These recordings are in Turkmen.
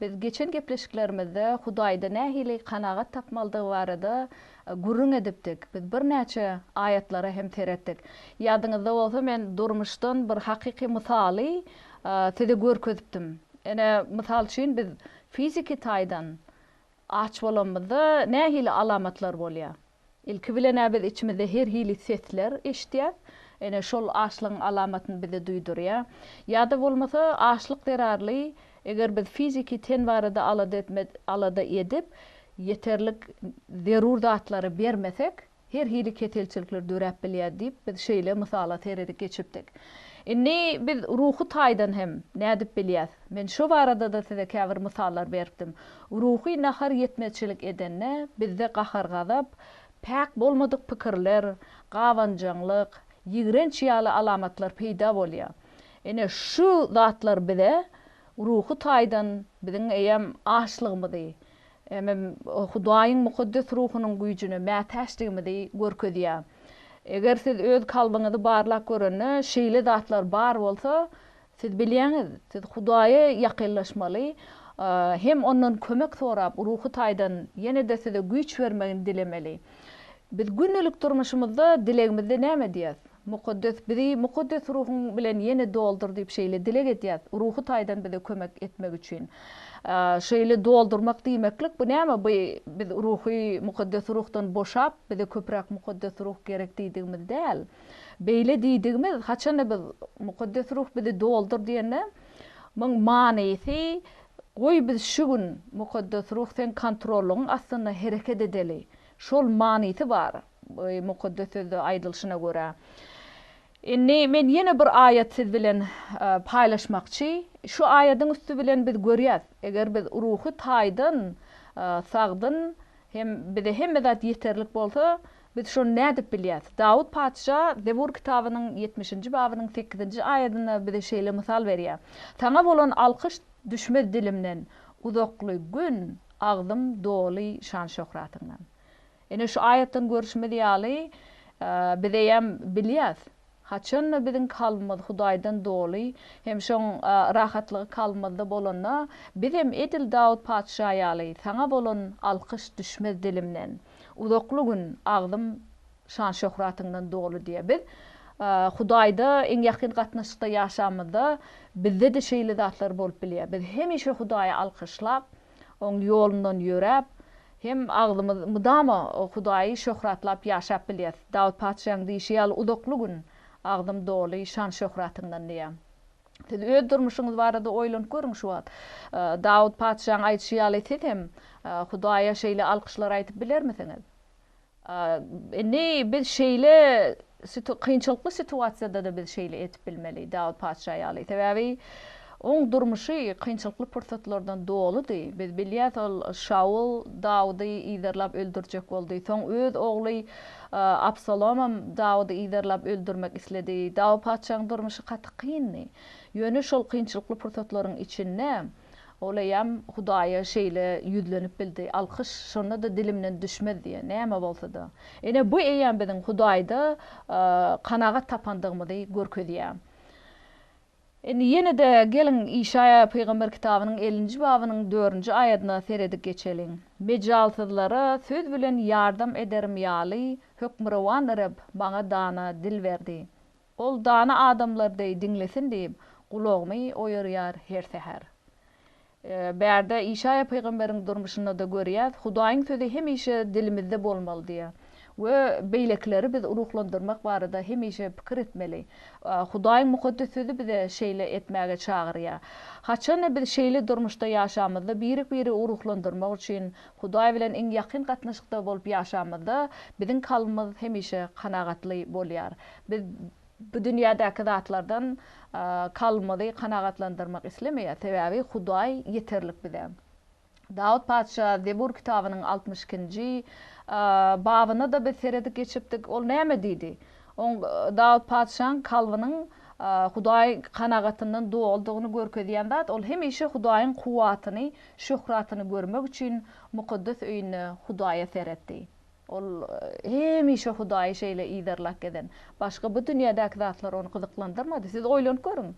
Biz geçen gepleşiklerimizde Hudaýda nähili kanagat tapmalydygy barada gürrüň edipdik. Biz birnäçe aýatlara hem seretdik. Ýadyňyzda bolsa men durmuşdan bir hakyky mysaly size görkezipdim. Ine, mysal üçin biz fiziki taýdan aç bolanymyzda nähili alamatlar bolýar? Ilki bilen-ä biz içimizde her hili sesler eşidýäs. Ine, şol açlygyň alamatyny bize duýdurýar. Ýa-da bolmasa, açlyk zerarly, eger biz fiziki ten barada alada etme, alada edip, ýeterlik zerur zatlary bermesek, her hili keselçilikler döräp bilýär diýip, biz şeýle mysala seredip geçipdik. Indi biz ruhy taýdan hem nädip bilýäs? Men şo barada-da size käbir mysallar beripdim. Ruhy nahar ýetmezçilik edende, bizde gahar-gazap, päk bolmadyk pikirler, gabanjaňlyk, ýigrenç ýaly alamatlar peýda bolýar. Ine, şu zatlar bize ruhy taýdan biziň eýýäm açlygymyzy, hemem Hudaýyň mukaddes ruhunyň güýjüne mätäçdigimizi görkezýär. Eger siz öz kalbyňyzy barlap görende, şeýle zatlar bar bolsa, Siz bilýäňiz, siz Hudaýa ýakynlaşmaly, hem Ondan kömek sorap, ruhy taýdan ýene-de size güýç bermegini dilemeli. Biz gündelik durmuşymyzda dilegimizde näme edýäs? Mukaddes, bizi Mukaddes Ruhuň bilen ýene doldur diýip şeýle dileg edýäs, ruhy taýdan bize kömek etmek üçin. Şeýle doldurmak diýmeklik, bu näme? Bu biz ruhy, Mukaddes Ruhdan boşap, bize köpräk Mukaddes Ruh gerek diýdigimiz däl. Beýle diýdigimiz, haçanda biz Mukaddes Ruh bizi doldur diýende, muň manysy, goý biz şu gün, Mukaddes Ruh seň kontrollygyň astynda hereket edeli. Şol manysy bar, Mukaddes Sözde aýdylyşyna görä. Indi men ýene bir aýat siz bilen paýlaşmakçy. Şu aýadyň üsti bilen biz görýäs, eger biz ruhy taýdan sagdyn hem bize hemme zat ýeterlik bolsa, Biz şony nädip bilýäs? Dawut patyşa Zebur kitabynyň ýetmişinji babynyň sekizinji aýadynda bize şeýle mysal berýär, Saňa bolan alkyş düşmez dilimden, uzakly gün agzym doly şan-şöhratyňdan. Ine, şu aýatdan görşümiz ýaly, bizeýem bilýäs, Haçanda biziň kalbymyz Hudaýdan doly hem şoň rahatlygy kalbymyzda bolanda, bizem edil Dawut patyşa ýaly, Saňa bolan alkyş düşmez dilimden. Uzakly gün agzym şan-şöhratyňdan doly diýýär. Biz Hudaýda iň ýakyn gatnaşykda ýaşamyzda, bizde-de şeýle zatlar bolup bilýär. Biz hemişe Hudaýy alkyşlap, Oň ýolundan ýöräp, hem agzymyz mydama Hudaýy şöhratlap ýaşap bilýäs. Dawut patyşaň diýşi ýaly uzakly gün agzym doly şan-şöhratyňdan diýýär. Siz öz durmuşyňyz barada oýlanyp görüň şu wagt. Dawut patyşaň aýdyşy ýaly siz hem Hudaýa şeýle alkyşlar aýdyp bilermisiňiz? Indi biz şeýle kynçylykly situasiýada-da biz şeýle edip bilmeli, Dawut patyşa ýaly. Sebäbi oň durmuşy kynçylykly pursatlardan doludy. Biz bilýäs, ol Şawul Dawudy yzarlap öldürjek boldy. Soň öz ogly Absalomam Dawudy yzarlap öldürmek isledi. Dawut patyşaň durmuşy gaty kyndy. Ýöne şol kynçylykly pursatlaryň içinde Ol eýýäm Hudaýa şeýle ýüzlenip bildi, Alkyş şonda-da dilimden düşmez diýen, näme bolsa-da. Ine, bu eýýäm biziň Hudaýda kanagat tapandygymyzy görkezýär. Indi ýene-de geliň, Işaýa pygamber kitabynyň ellinji babynyň dördünji aýadyna seredip geçeliň. Mejalsyzlara söz bilen ýardam ederim ýaly, Hökmürowan Reb maňa dana dil berdi. Ol dana adamlar deý diňlesin diýip, gulagymy oýarýar her säher. Bärde Işaýa pygamberiň durmuşynda-da görýäs, Hudaýyň sözi hemişe dilimizde bolmaly diýýär. We beýlekileri biz ruhlandyrmak barada hemişe pikir etmeli. Hudaýyň Mukaddes Sözi bize şeýle etmäge çagyrýar. Haçan-da biz şeýle durmuşda ýaşamyzda, birek-biri ruhlandyrmak üçin Hudaý bilen iň ýakyn gatnaşykda bolup ýaşamyzda, biziň kalbymyz hemişe kanagatly bolýar. Biz bu dünýädäki zatlardan kalbymyzy kanagatlandyrmak islemeýäs, sebäbi Hudaý ýeterlik bize. Dawut patyşa Zebur kitabynyň altmyş ikinji babyna-da biz seredip geçipdik. Ol näme diýdi? Oň Dawut patyşaň kalbynyň Hudaý kanagatyndan doludygyny görkezýän zat, ol hemişe Hudaýyň kuwwatyny, şöhratyny görmek üçin mukaddes öýünde Hudaýa seretdi. Ol hemişe Hudaýy şeýle yzarlap gezen. Başga bu dünýädäki zatlar ony gyzyklandyrmady. Siz oýlanyp görüň,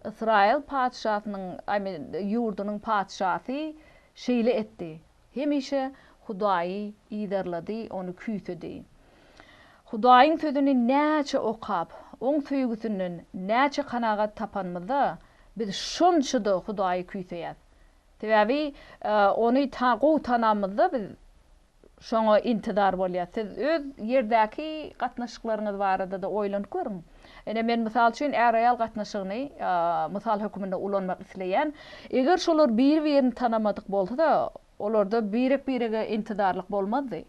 Ysraýyl patyşasynyň, Ami, ýurdunyň patyşasy şeýle etdi. Hemişe Hudaýy yzarlady, Ony küýsedi. Hudaýyň Sözüni näçe okap, Oň söýgüsinden näçe kanagat tapanymyzda, biz şonça-da Hudaýy küýseýäs. Sebäbi Ony ta gowy tanamyzda biz Şoňa intizar bolýas. Siz öz ýerdäki gatnaşyklaryňyz barada-da oýlanyp görüň. Ine, men mysal üçin är-aýal gatnaşygyny mysal höküminde ulanmak isleýän. Eger şolar bir-birini tanamadyk bolsa-da, olarda birek-birege intizarlyk bolmazdy.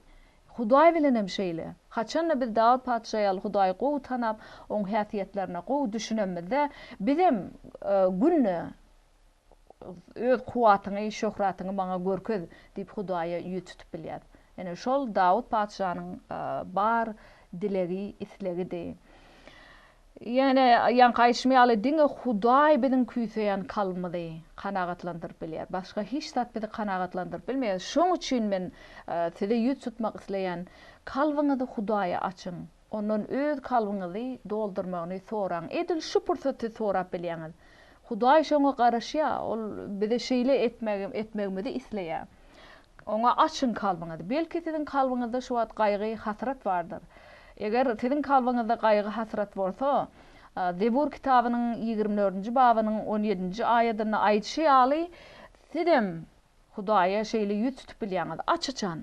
Hudaý bilen hem şeýle. Haçan-da biz Dawut patyşa ýaly Hudaýy gowy tanap, oň häsiýetlerine gowy düşünemizde, bizem günde Öz kuwwatyňy, şöhratyňy maňa görkez! diýip, Hudaýa ýüz tutup bilýär. Ine, şol Dawut patyşanyň bar dilegi, islegidi. Ýöne, ýaňky aýdyşym ýaly, diňe Hudaý biziň küýseýän kalbymyzy kanagatlandyryp bilýär. Başga hiç zat bizi kanagatlandyryp bilmeýär. Şoň üçin men size ýüz tutmak isleýän, kalbyňyzy Hudaýa açyň. Ondan öz kalbyňyzy doldurmagyny soraň. Edil şu pursaty sorap bilýäňiz. Hudaý şoňa garaşýar, ol bize şeýle etmegimizi isleýär. Oňa açyň kalbyňyzy. Belki siziň kalbyňyzda şu wagt gaýgy, hasrat bardyr. Eger siziň kalbyňyzda gaýgy, hasrat bolsa, Zebur kitabynyň ýigrimi dördünji babynyň on ýedinji aýadynda aýdyşy ýaly, sizem Hudaýa şeýle ýüz tutup bilýäňiz. Aç-açan.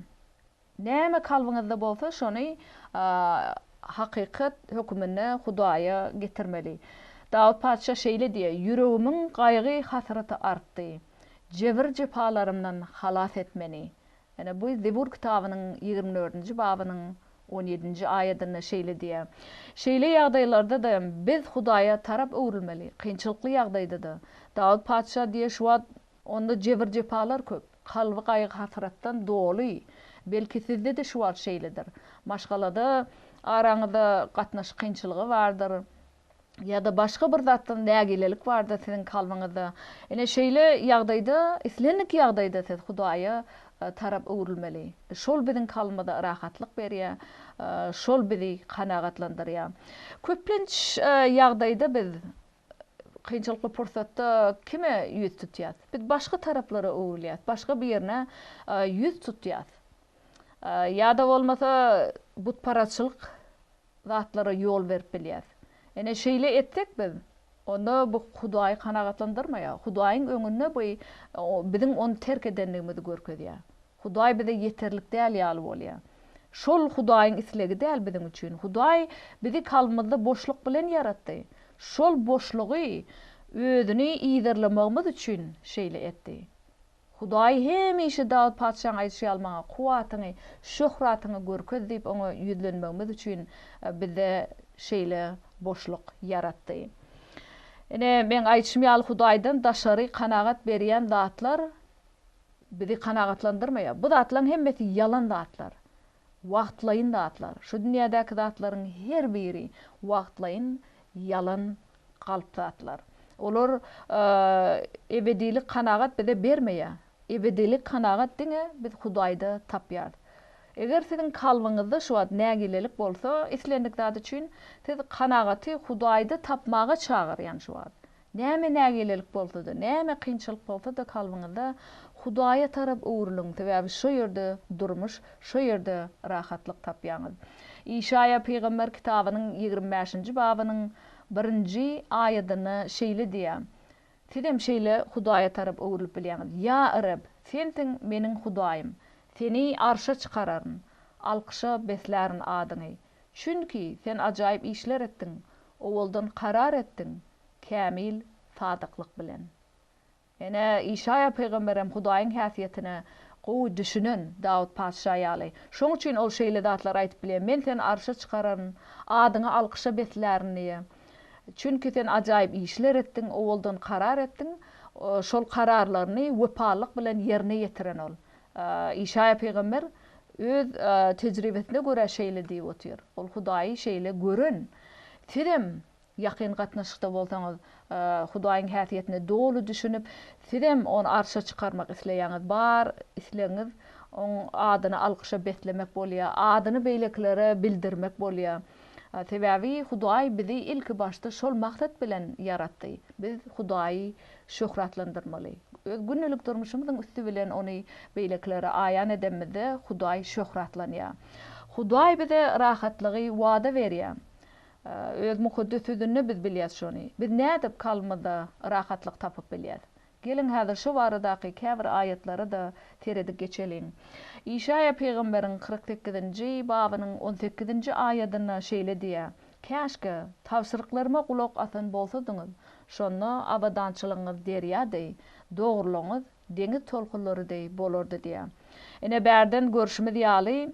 Näme kalbyňyzda bolsa, şony hakykat höküminde Hudaýa getirmeli. Dawut patyşa şeýle diýýär, Ýüregimiň gaýgy-hasraty artdy. Jebir-jepalarymdan halas et meni. Ýene bu Zebur kitabynyň ýigrimi dördünji babynyň on ýedinji aýadynda şeýle diýýär. Şeýle ýagdaýlarda-da biz Hudaýa tarap öwrülmeli, kynçylykly ýagdaýda-da. Dawut patyşa diýýär, Şu wagt onda jebir-jepalar köp. Kalby gaýgy-hasratdan doly. Belki sizde-de şu wagt şeýledir. Maşgalada araňyzda gatnaşyk kynçylygy bardyr. Ýa-da başga bir zatdan nägilelik bardyr siziň kalbyňyzda. Ine, şeýle ýagdaýda, islendik ýagdaýda siz Hudaýa tarap öwrülmeli. Şol biziň kalbymyza rahatlyk berýär. Şol bizi kanagatlandyrýar. Köplenç ýagdaýda biz Kynçylykly pursatda kime ýüz tutýas? Biz başga taraplara öwrülýäs, başga birine ýüz tutýas. Ýa-da bolmasa butparazçylyk zatlara ýol berip bilýäs. Ine şeýle etsek biz, onda bu Hudaýy kanagatlandyrmaýar. Hudaýyň öňünde bu biziň ony terk edendigimizi görkezýär. Hudaý bize ýeterlik däl ýaly bolýar. Şol Hudaýyň islegi däl biziň üçin. Hudaý bizi kalbymyzda boşluk bilen ýaratdy. Şol boşlugy özüni yzarlamagymyz üçin şeýle etdi. Hudaý hemişe Dawut patyşaň aýdyşy ýaly maňa kuwwatyňy, şöhratyňy görkez diýip oňa ýüzlenmegimiz üçin bize şeýle boşluk ýaratdy. Ine, meň aýdyşym ýaly Hudaýdan daşary kanagat berýän zatlar bizi kanagatlandyrmaýar. Bu zatlaryň hemmesi ýalan zatlar. Wagtlaýyn zatlar, şu dünýädäki zatlaryň her biri wagtlaýyn, ýalan, galp zatlar. Olar ebedilik kanagat bize bermeýär. Ebedilik kanagat diňe biz Hudaýda tapýarys. Eger siziň kalbyňyzda şu wagt nägilelik bolsa islendik zat üçin, siz kanagaty Hudaýda tapmaga çagyrýan şu wagt. Näme nägilelik bolsa-da, näme kynçylyk bolsa-da kalbyňyzda Hudaýa tarap öwrüliň, sebäbi şo ýerde durmuş, şo ýerde rahatlyk tapýaňyz. Işaýa pygamber kitabynyň ýigrimi bäşinji babynyň birinji aýadynda şeýle diýýär, Sizem şeýle Hudaýa tarap öwrülip bilýäňiz, Ýa Reb, Sensiň meniň Hudaýym, Seni arşa çykararyn, alkyşa beslärin adyňy. Çünki sen ajaýyp işler etdiň, owaldan karar etdiň, kämil sadyklyk bilen. Ine, Işaýa pygamber hem Hudaýyň häsiýetine gowy düşünen, Dawut patyşa ýaly. Şoň üçin ol şeýle zatlary aýdyp bilýär, Men seni arşa çykararyn, adyňy alkyşa beslärin diýýär. Çünki sen ajaýyp işler etdiň, owaldan karar etdiň, şol kararlaryny wepalylyk bilen ýerine ýetiren ol. Işaýa pygamber öz tejribesine görä şeýle diýip otyr, ol Hudaýy şeýle gören. Sizem ýakyn gatnaşykda bolsaňyz, Hudaýyň häsiýetine doly düşünip, sizem Ony arşa çykarmak isleýäňiz, bar islegiňiz Oň adyny alkyşa beslemek bolýar, adyny beýlekilere bildirmek bolýar. Sebäbi Hudaý bizi ilkibaşda şol maksat bilen ýaratdy. Biz Hudaýy şöhratlandyrmaly. Öz gündelik durmuşymyzyň üsti bilen ony beýlekilere aýan edemizde Hudaý şöhratlanýar. Hudaý bize rahatlygy wada berýär. Öz Mukaddes Sözünde biz bilýäs şony. Biz nädip kalbymyzda rahatlyk tapyp bilýäs? Geliň häzir şo baradaky käbir aýatlara-da seredip geçeliň. Işaýa pygamberiň kyrk sekizinji babynyň on sekizinji aýadynda şeýle diýýär, Käşgä, tabşyryklaryma gulak asan bolsadyňyz, Şonda abadançylygyňyz derýa deý, dogrulygyňyz deňiz tolkunlary deý bolardy diýýär. Ine, bärden görşümiz ýaly,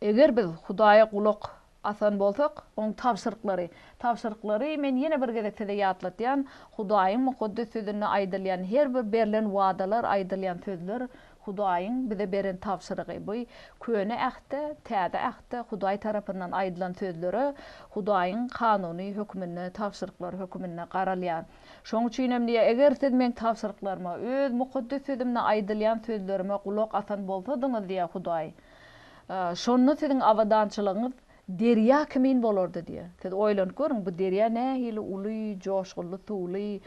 eger biz Hudaýa gulak asan bolsak, Oň tabşyryklary, tabşyryklary men ýene bir gezek size ýatlatýan, Hudaýyň Mukaddes Sözünde aýdylýan her bir berlen wadalar, aýdylýan sözler Hudaýyň bize beren tabşyrygy bu. Köne Ähtde, Täze Ähtde Hudaý tarapyndan aýdylan sözlere Hudaýyň kanuny höküminde, tabşyryklary höküminde garalýar. Şoň üçin hem diýýär, Eger siz Meň tabşyryklaryma, Öz mukaddes Sözümde aýdylýan sözlerime gulak asan bolsadyňyz, diýýär Hudaý, şonda siziň abadançylygyňyz derýa kimin bolardy, diýýär. Siz oýlanyp görüň, bu derýa nähili uly, joşgunly suwly,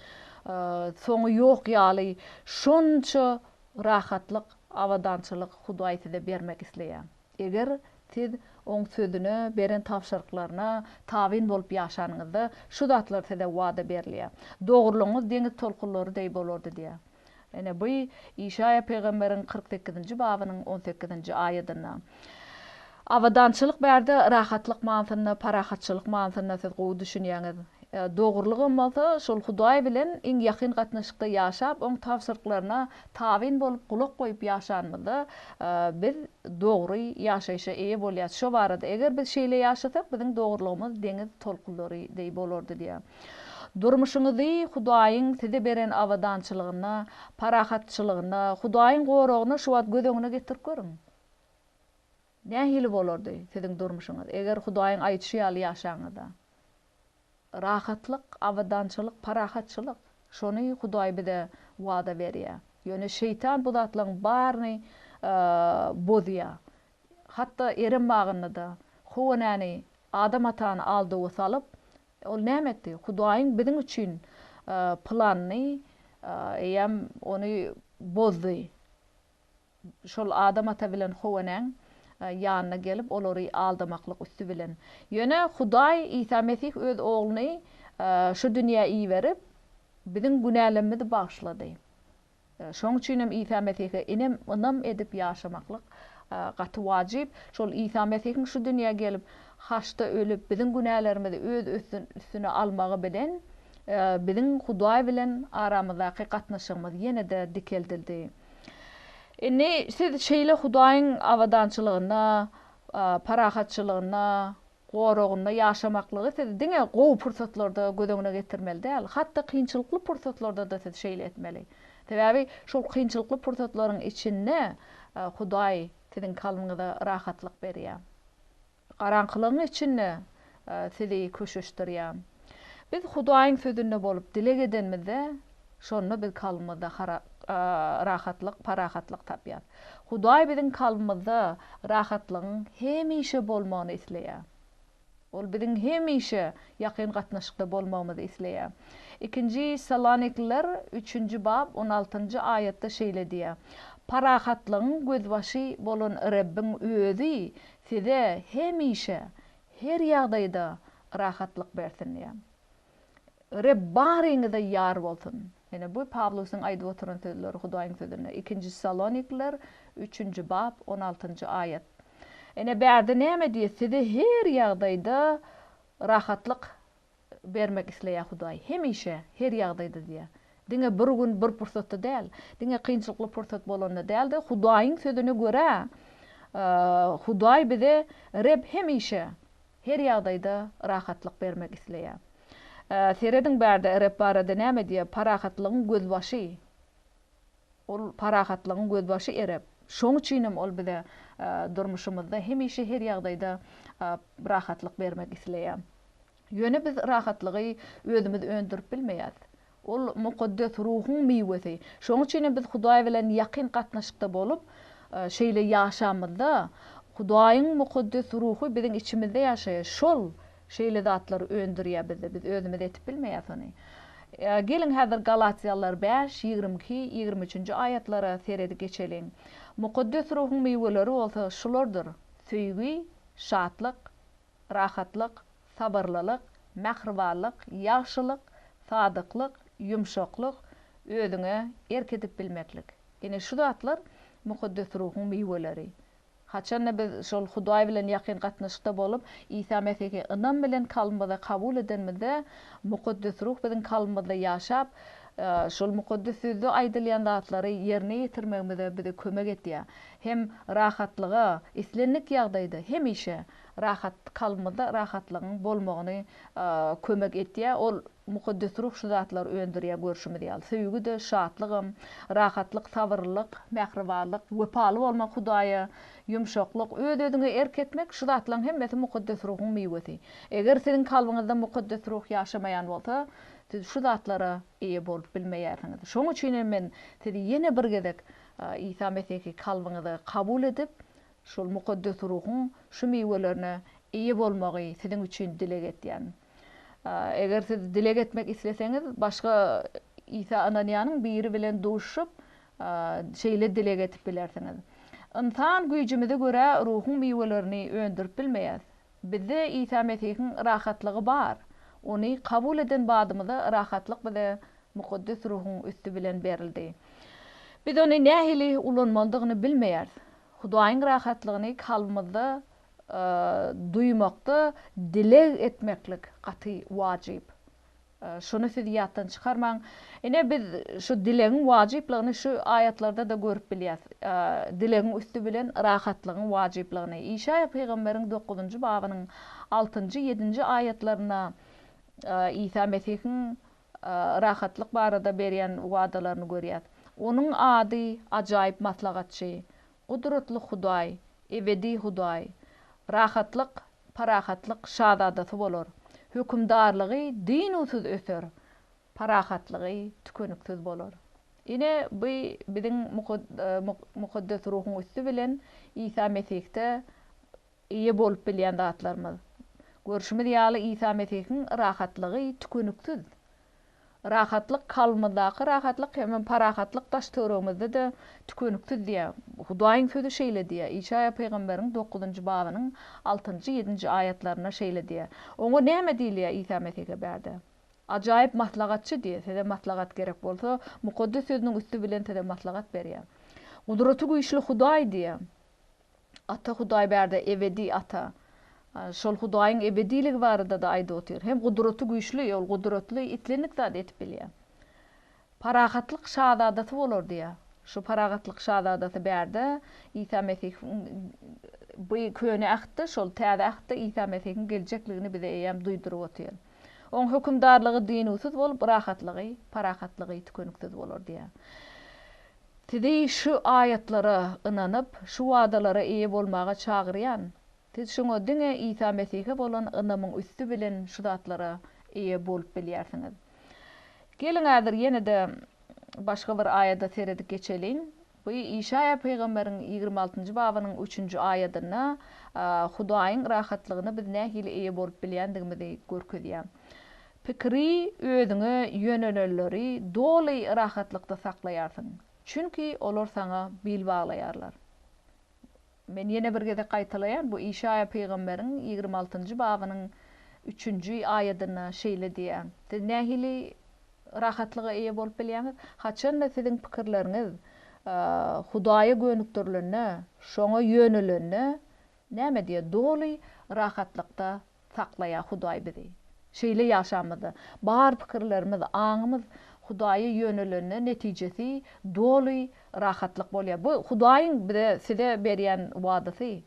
soňy ýok ýaly, şonça Rahatlyk, abadançylyk Hudaý size bermek isleýär. Eger siz Oň Sözüne, beren tabşyryklaryna tabyn bolup ýaşanyňyzda, şu zatlar size wada berilýär. Dogrulygyňyz deňiz tolkunlary deý bolardy diýýär. Ine, bu Işaýa pygamberiň kyrk sekizinji babynyň on sekizinji aýadynda. Abadançylyk bärde rahatlyk manysynda, parahatçylyk manysynda siz gowy düşünýäňiz. Dogrulygam bolsa, şol Hudaý bilen iň ýakyn gatnaşykda ýaşap, oň tabşyryklaryna tabyn bolup, gulak goýup ýaşanymyzda, biz dogry ýaşaýşa eýe bolýarys. Şo barada, Eger biz şeýle ýaşasak, biziň dogrulygymyz deňiz tolkunlary deý bolardy diýýär. Durmuşyňyzy Hudaýyň size beren abadançylygyna, parahatçylygyna, Hudaýyň goragyna şu wagt göz öňüne getirip görüň. Nähili bolardy siziň durmuşyňyz, eger Hudaýyň aýdyşy ýaly ýaşaňyzda? Rahatlyk, abadançylyk, parahatçylyk. Şony Hudaý bize wada berýär. Ýöne Şeýtan bu zatlaryň baryny bozýar. Hatda Erem bagynda-da Howa-enäni, Adam atany aldawa salyp, ol näme etdi? Hudaýyň biziň üçin planyny, eýýäm ony bozdy. şol Adam ata bilen Howanyň ýanyna gelip, olary aldamaklyk üsti bilen. Ýöne Hudaý Isa Mesih Öz Ogluny şu dünýä iberip, biziň günälerimizi bagyşlady. Şoň üçin hem Isa Mesihe inem, ynam edip ýaşamaklyk gaty wajyp. Şol Isa Mesihiň şu dünýä gelip, haçda ölüp, biziň günälerimizi Öz üstüne almagy bilen, biziň Hudaý bilen aramyzdaky gatnaşygymyz ýene-de dikeldildi. Indi siz şeýle Hudaýyň abadançylygynda, parahatçylygynda, goragynda ýaşamaklygy siz diňe gowy pursatlarda göz öňüne getirmeli däl, hat-da kynçylykly pursatlarda-da siz şeýle etmeli. Sebäbi şol kynçylykly pursatlaryň içinde Hudaý siziň kalbyňyza rahatlyk berýär. Garaňkylygyň içinde Sizi köşeşdirýän. Biz Hudaýyň Sözünde bolup dileg edenimizde, şonda biz kalbymyzda rahatlyk, parahatlyk tapýarys. Hudaý biziň kalbymyzda rahatlygyň hemişe bolmagyny isleýär. Ol biziň hemişe ýakyn gatnaşykda bolmagymyzy isleýär. Ikinji Salonikliler üçünji bap on altynjy aýatda şeýle diýýär, Parahatlygyň gözbaşy bolan Rebbiň Özi Size hemişe, her ýagdaýda rahatlyk bersin diýýän. Reb baryňyza ýar bolsun. Ine, bu Pawlusyň aýdyp oturan sözleri Hudaýyň Sözünde, Ikinji Salonikliler üçünji bap, on altynjy aýat. Ine, bärde näme diýýär, Size her ýagdaýda rahatlyk bermek isleýär Hudaý. Hemişe, her ýagdaýda diýýär. Diňe bir gün, bir pursatda däl. Diňe kynçylykly pursat bolanda däl-de, Hudaýyň Sözüne görä, Hudaý bize, Reb hemişe, her ýagdaýda rahatlyk bermek isleýär. Serediň bärde Reb barada näme diýýär, Parahatlygyň gözbaşy. Ol parahatlygyň gözbaşy erek. Şoň üçinem ol bize durmuşymyzda hemişe her ýagdaýda rahatlyk bermek isleýär. Ýöne biz rahatlygy özümiz öndürip bilmeýäs. Ol mukaddes ruhuň miwesi. Şoň üçinem biz Hudaý bilen ýakyn gatnaşykda bolup, şeýle ýaşamyzda, Hudaýyň mukaddes ruhy biziň içimizde ýaşaýar. Şol Şeýle zatlary öndürýä bizde, biz özümiz etip bilmeýäs ony. Geliň häzir Galatýalylar bäş, ýigrimi iki, ýigrimi üçünji aýatlara seredi geçeliň. Mukaddes Ruhuň miweleri bolsa şulardyr, söýgi, şatlyk, rahatlyk, sabyrlylyk, mähribanlyk, ýagşylyk, sadyklyk, ýumşaklyk, özüňe erk edip bilmeklik. Ine şu zatlar Mukaddes Ruhuň miweleri. Haçanda biz şol Hudaý bilen ýakyn gatnaşykda bolup, Isa Mesihi ynam bilen kalbymyza kabul edenimizde, Mukaddes Ruh biziň kalbymyzda ýaşap, şol Mukaddes Sözde aýdylýan zatlary ýerine ýetirmegimize bize kömek edýär. Hem rahatlyga, islendik ýagdaýda, hemişe Rahat kalbymyzda rahatlygyň bolmagyny kömek etýär. Ol Mukaddes Ruh şu zatlary öndürýär görşümiz ýaly, söýgi-de, şatlygam, rahatlyk, sabyrlylyk, mähribanlyk, wepaly bolmak Hudaýa, ýumşaklyk, öz-özüňe erk etmek, şu zatlaryň hemmesi Mukaddes Ruhuň miwesi. Eger siziň kalbyňyzda Mukaddes Ruh ýaşamaýan bolsa, siz şu zatlara eýe bolup bilmeýärsiňiz. Şoň üçin hem men sizi ýene bir gezek Isa Mesihi kalbyňyza kabul edip, Şol Mukaddes Ruhuň şu miwelerine eýe bolmagy siziň üçin dileg etýän. Eger siz dileg etmek isleseňiz, başga Isa ynanýanyň biri bilen duşup, şeýle dileg edip bilersiňiz. Ynsan güýjümize görä Ruhuň miwelerini öndürip bilmeýäs. Bizde Isa Mesihiň rahatlygy bar. Ony kabul eden badymyza rahatlyk bize Mukaddes Ruhuň üsti bilen berildi. Biz ony nähili ulanmalydygyny bilmeýäris. Hudaýyň rahatlygyny kalbymyzda duýmakda dileg etmeklik gaty wajyp. Şuny siz ýatdan çykarmaň. Ine, biz şu dilegiň wajyplygyny şu aýatlarda-da görüp bilýäs. Dilegiň üsti bilen rahatlygyň wajyplygyny. Işaýa pygamberiň dokuzynjy babynyň altynjy, ýedinji aýatlarynda Isa Mesihiň rahatlyk barada berýän wadalaryny görýäs. Onuň ady Ajaýyp Maslahatçy, Gudratly Hudaý, ebedi Hudaý, rahatlyk, parahatlyk şazadasy bolar, hökümdarlygy dynuwsyz öser, parahatlygy tükeniksiz bolar. Ine, bu biziň Mukaddes Ruhuň üsti bilen Isa Mesihde eýe bolup bilýän zatlarymyz. Görşümiz ýaly, Isa Mesihiň rahatlygy tükeniksiz. Rahatlyk kalbymyzdaky rahatlyk hemem parahatlyk daş-töweregimizde-de tükeniksiz diýýär. Hudaýyň sözi şeýle diýýär, Işaýa pygamberiň dokuzynjy babynyň altynjy, ýedinji aýatlarynda şeýle diýýär. Oňa näme diýilýär Isa Mesihe bärde? Ajaýyp maslahatçy diýýär. Size maslahat gerek bolsa, Mukaddes Sözüniň üsti bilen size maslahat berýär. Gudratygüýçli Hudaý diýýär. Ata Hudaýberde ebedi Ata. Şol Hudaýyň ebediligi barada-da aýdyp otyr. Hem gudraty güýçli, ol gudratly, islendik zady edip bilýär. Parahatlyk şazadasy bolar diýýär. Şu parahatlyk şazadasy bärde Isa Mesihiň bu Köne Ähtde, şol Täze Ähtde Isa Mesihiň geljekligini bize eýýäm duýduryp otyr. Oň hökümdarlygy dynuwsyz bolup, rahatlygy, parahatlygy tükeniksiz bolar diýýär. Sizi şu aýatlara ynanyp, şu wadalara eýe bolmaga çagyrýan. Siz şoňa diňe Isa Mesihe bolan ynamyň üsti bilen şu zatlara eýe bolup bilýärsiňiz. Geliň häzir ýene-de başga bir aýada seredip geçeliň. Bu Işaýa pygamberiň ýigrimi altynjy babynyň üçünji aýadynda Hudaýyň rahatlygyna biz nähili eýe bolup bilýändigimizi görkezýär. Pikiri özüňe ýönelenleri doly rahatlykda saklaýarsyň, çünki olar saňa bil baglaýarlar. Men ýene bir gezek gaýtalaýan, bu Işaýa pygamberiň ýigrimi altynjy babynyň üçünji aýadynda şeýle diýýär. Siz nähili rahatlyga eýe bolup bilýäňiz? Haçanda siziň pikirleriňiz Hudaýa gönükdirilende, Şoňa ýönelende, näme diýýär, doly rahatlykda Saklaýa Hudaý bizi. Şeýle ýaşamyzda, bar pikirlerimiz, aňymyz Hudaýa ýönelende netijesi doly rahatlyk bolýar. Bu Hudaýyň bize, size berýän wadasy.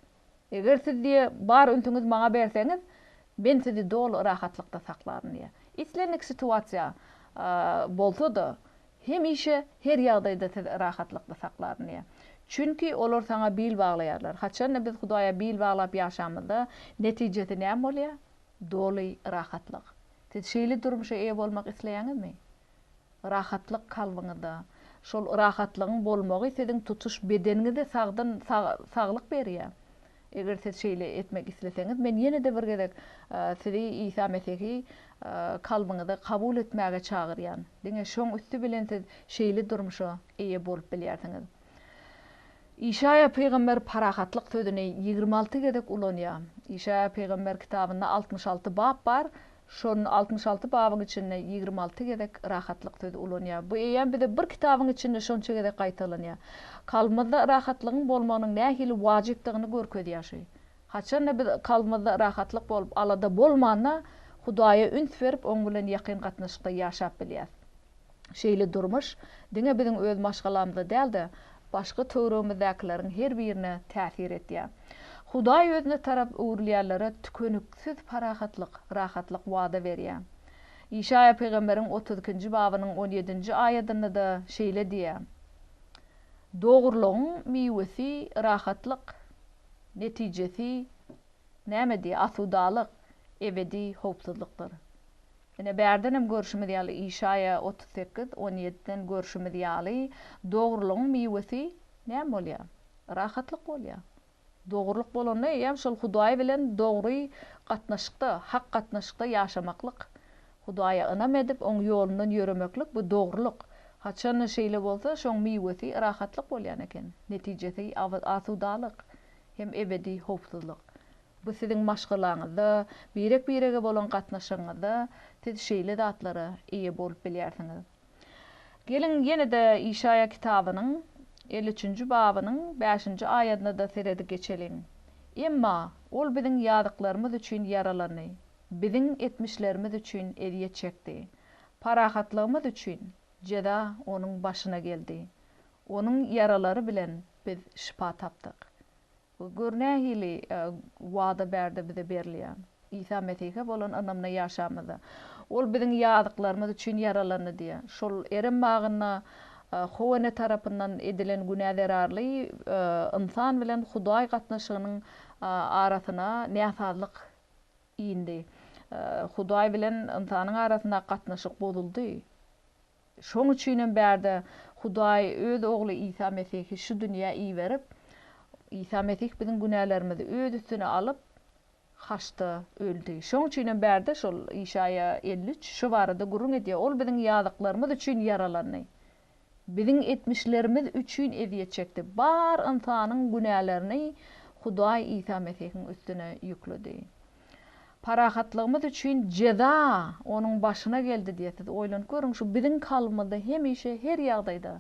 Eger siz diýe bar ünsüňiz maňa berseňiz, men sizi doly rahatlykda saklaryn diýýär. Islendik situasiýa bolsa-da, Hemişe, her ýagdaýda sizi rahatlykda saklaryn diýýär. Çünki olar saňa bil baglaýarlar. Haçan-da biz Hudaýa bil baglap ýaşamyzda, netijesi näme bolýar? Doly rahatlyk. Siz şeýle durmuşa eýe bolmak isleýäňizmi? Rahatlyk kalbyňyzda. Şol rahatlygyň bolmagy siziň tutuş bedeniňize sagdyn saglyk berýär. Eger siz şeýle etmek isleseňiz, men ýene-de bir gezek sizi Isa Mesihi kalbyňyza kabul etmäge çagyrýan. Diňe şoň üsti bilen siz şeýle durmuşa eýe bolup bilýärsiňiz. Işaýa pygamber parahatlyk sözüni ýigrimi alty gezek ulanýar. Işaýa pygamber kitabynda altmyş alty bap bar, Şol altmyş alty babyň içinde ýigrimi alty gezek rahatlyk sözi ulanýar. Bu eýýäm bize bir kitabyň içinde şonça gezek gaýtalanýar. Kalbymyzda rahatlygyň bolmagynyň nähili wajypdygyny görkezýär şu. Haçanda biz kalbymyzda rahatlyk bolup, alada bolmanda, Hudaýa üns berip, Oň bilen ýakyn gatnaşykda ýaşap bilýäris. Şeýle durmuş diňe biziň öz maşgalamyza däl-de, başga töweregimizdäkileriň her birine täsir edýär. Hudaý özüne tarap öwrülýänlere tükeniksiz parahatlyk, rahatlyk wada berýär. Işaýa pygamberiň otuz ikinji babynyň on ýedinji aýadynda-da şeýle diýýär, Dogrulygyň miwesi rahatlyk, netijesi nämedi? Asudalyk, ebedi howpsuzlykdyr. Ine, bärdenem görşümiz ýaly, Işaýa otuz sekiz, on ýediden görşümiz ýaly, dogrulygyň miwesi näme bolýar? Rahatlyk bolýar. Dogrulyk bolanda, eýýäm şol Hudaý bilen dogry gatnaşykda, hak gatnaşykda ýaşamaklyk, Hudaýa ynam edip, Oň ýolundan ýöremeklik, bu dogrulyk. Haçan şeýle bolsa, şoň miwesi rahatlyk bolýan eken, netijesi asudalyk hem ebedi howpsuzlyk. Bu siziň maşgalaňyzda, birek-birege bolan gatnaşygyňyzda siz şeýle zatlara eýe bolup bilýärsiňiz. Geliň, ýene-de Işaýa kitabynyň elli üçünji babynyň bäşinji aýadyna-da seredip geçeliň. Emma Ol biziň ýazyklarymyz üçin ýaralandy, biziň etmişlerimiz üçin ezýet çekdi, parahatlygymyz üçin jeza Onuň başyna geldi, Onuň ýaralary bilen biz şypa tapdyk. Gör nähili wada bärde bize berilýär. Isa Mesihe bolan ynamda ýaşamyzda, Ol biziň ýazyklarymyz üçin ýaralandy diýýär. Şol Erem bagynda Howene tarapyndan edilen günä zerarly ynsan bilen Hudaý gatnaşygynyň arasyna näsazlyk indi. Hudaý bilen ynsanyň arasyndaky gatnaşyk bozuldy. Şoň üçinem bärde Hudaý Öz Ogly Isa Mesihi şu dünýä iberip, Isa Mesih biziň günälerimizi Öz üstüne alyp, haçda öldi. Şoň üçinem bärde şol Işaýa elli üç şu barada gürrüň edýär, Ol biziň ýazyklarymyz üçin ýaralandy, biziň etmişlerimiz üçin ezýet çekdi. Bar ynsanyň günälerini Hudaý Isa Mesihiň üstüne ýükledi. Parahatlygymyz üçin jeza onuň başyna geldi diýe siz oýlanyp görüň şu biziň kalbymyzda hemişe her ýagdaýda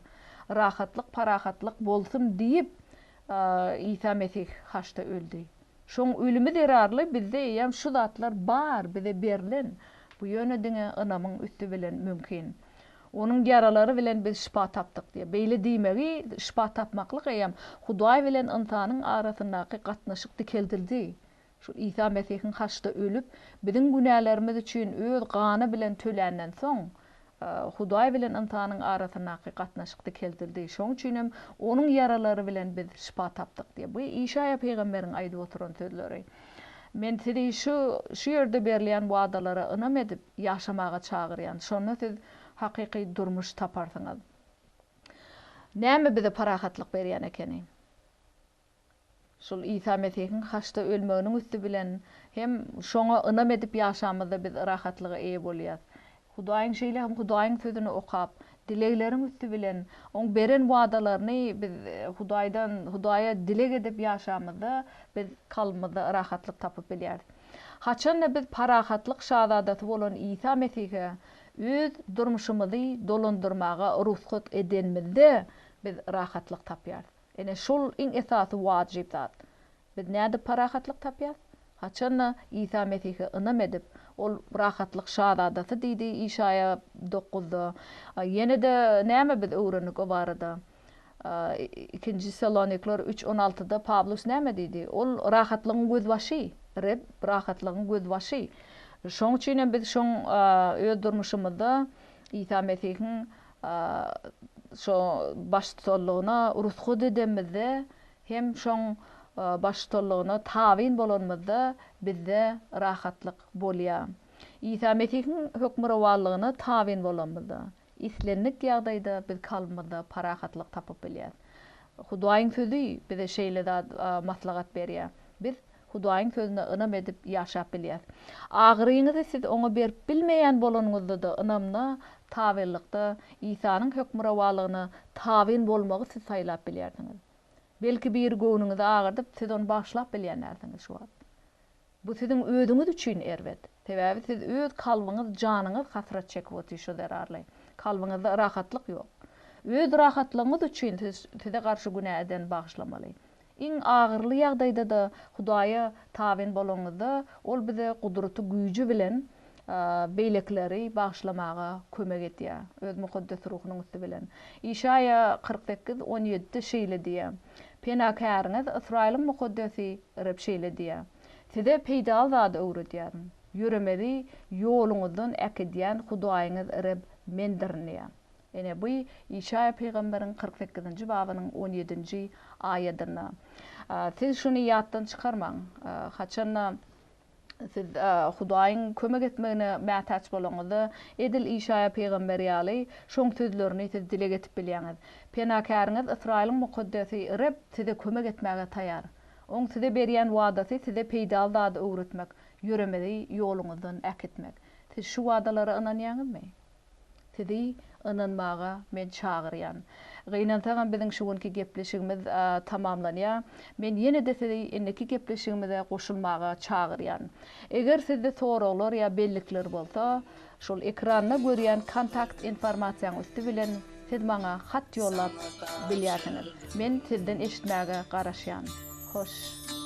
rahatlyk parahatlyk bolsun diýip Isa Mesih haçda öldi. Şoň ölümi zerarly bizde eýýäm şu zatlar bar bize berlen bu ýöne diňe ynamyň üsti bilen mümkin. Onuň ýaralary bilen biz şypa tapdyk diýe beýle diýmegi şypa tapmaklyk eýýäm Hudaý bilen ynsanyň arasyndaky gatnaşyk dikeldildi Şol Isa Mesihiň haçda ölüp, biziň günälerimiz üçin öz gany bilen töländen soň, Hudaý bilen ynsanyň arasyndaky gatnaşyk dikeldildi. Şoň üçin hem Onuň ýaralary bilen biz şypa tapdyk diýýär. Bu Işaýa pygamberiň aýdyp oturan sözleri. Men sizi şu, şu ýerde berilýän wadalara ynam edip, ýaşamaga çagyrýan. Şonda siz hakyky durmuş taparsyňyz. Näme bize parahatlyk berýän ekeni? Şol Isa Mesihiň haçda ölmeginiň üsti bilen hem şoňa ynam edip ýaşamyzda biz rahatlyga eýe bolýas. Hudaýyň şeýle hem Hudaýyň sözüni okap, dilegleriň üsti bilen oň beren wadalaryny biz Hudaýdan Hudaýa dileg edip ýaşamyzda biz kalbymyzda rahatlyk tapyp bilýäris. Haçanda biz parahatlyk şazadasy bolan Isa Mesihe öz durmuşymyzy dolandyrmaga rugsat edenmizde biz rahatlyk tapýarys. Ine, şol iň esasy wajyp zat. Biz nädip parahatlyk tapýas? Haçan-da Isa Mesihe ynam edip, Ol rahatlyk şazadasy diýdi Işaýa dokuzda. Ýene-de näme biz öwrendik o barada? Ikinji Tessaloniklere üç on altyda Pawlus näme diýdi? Ol rahatlygyň gözbaşy. Reb rahatlygyň gözbaşy. Şoň üçin hem biz şoň öz durmuşymyzda Isa Mesihiň Şo baştutanlygyna rusgu dedemizde hem şoň baştutanlygyna tabyn bolanymyzda bizde rahatlyk bolýa. Isa Mesihiň hökmürowanlygyna tabyn bolanymyzda, islendik ýagdaýda biz kalbymyzda parahatlyk tapyp bilýäs. Hudaýyň Sözi bize şeýle zat maslahat berýä. Biz Hudaýyň sözüne ynam edip ýaşap bilýäs. Agyryňyzy siz oňa berip bilmeýän bolanyňyzda-da ynamda, tabynlykda Isanyň hökmürowalygyna tabyn bolmagy siz saýlap bilýärsiňiz. Belki biri göwnüňizi agyrdyp, siz ony bagyşlap bilýän dälsiňiz şu wagt. Bu siziň özüňiz üçin erbet. Sebäbi siz öz kalbyňyz, janyňyz hasrat çekip otyr şo zerarly. Kalbyňyzda rahatlyk ýok. Öz rahatlygyňyz üçin siz size garşy günä edeni bagyşlamaly. Iň agyryly ýagdaýda-da Hudaýa tabyn bolanyňyzda, Ol bize gudraty güýji bilen beýlekileri bagyşlamaga kömek edýär, Öz Mukaddes Ruhunyň üsti bilen. Işaýa kyrk sekiz, on ýedi şeýle diýýär, Penakäriňiz, Ysraýylyň Mukaddesi Reb şeýle diýýär, Size peýdaly zady öwredýärin, ýöremezi ýoluňyzdan äkidýän Hudaýyňyz Reb Mendirin diýýär. Ine, bu Işaýa pygamberiň kyrk sekizinji babynyň on ýedinji aýadynda. Siz şuny ýatdan çykarmaň. Haçan-da siz Hudaýyň kömek etmegine mätäç bolanyňyzda, edil Işaýa pygamber ýaly, şoň sözlerini siz dile getirip bilýäňiz. Penakäriňiz, Ysraýylyň Mukaddesi Reb size kömek etmäge taýar. Oň size berýän wadasy size peýdaly zady öwretmek, ýöremezi ýoluňyzdan äkitmek. Siz şu wadalara ynanýaňyzmy? Sizi ynanmaga men çagyrýan. Gynansagam biziň şu günki gepleşigimiz tamamlanýar. Men ýene-de sizi indiki gepleşigimize goşulmaga çagyrýan. Eger sizde soraglar ýa bellikler bolsa, şol ekranda görýän kontakt informasiýaň üsti bilen siz maňa hat ýollap bilýärsiňiz. Men sizden eşitmäge garaşýan. Hoş,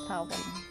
sag boluň.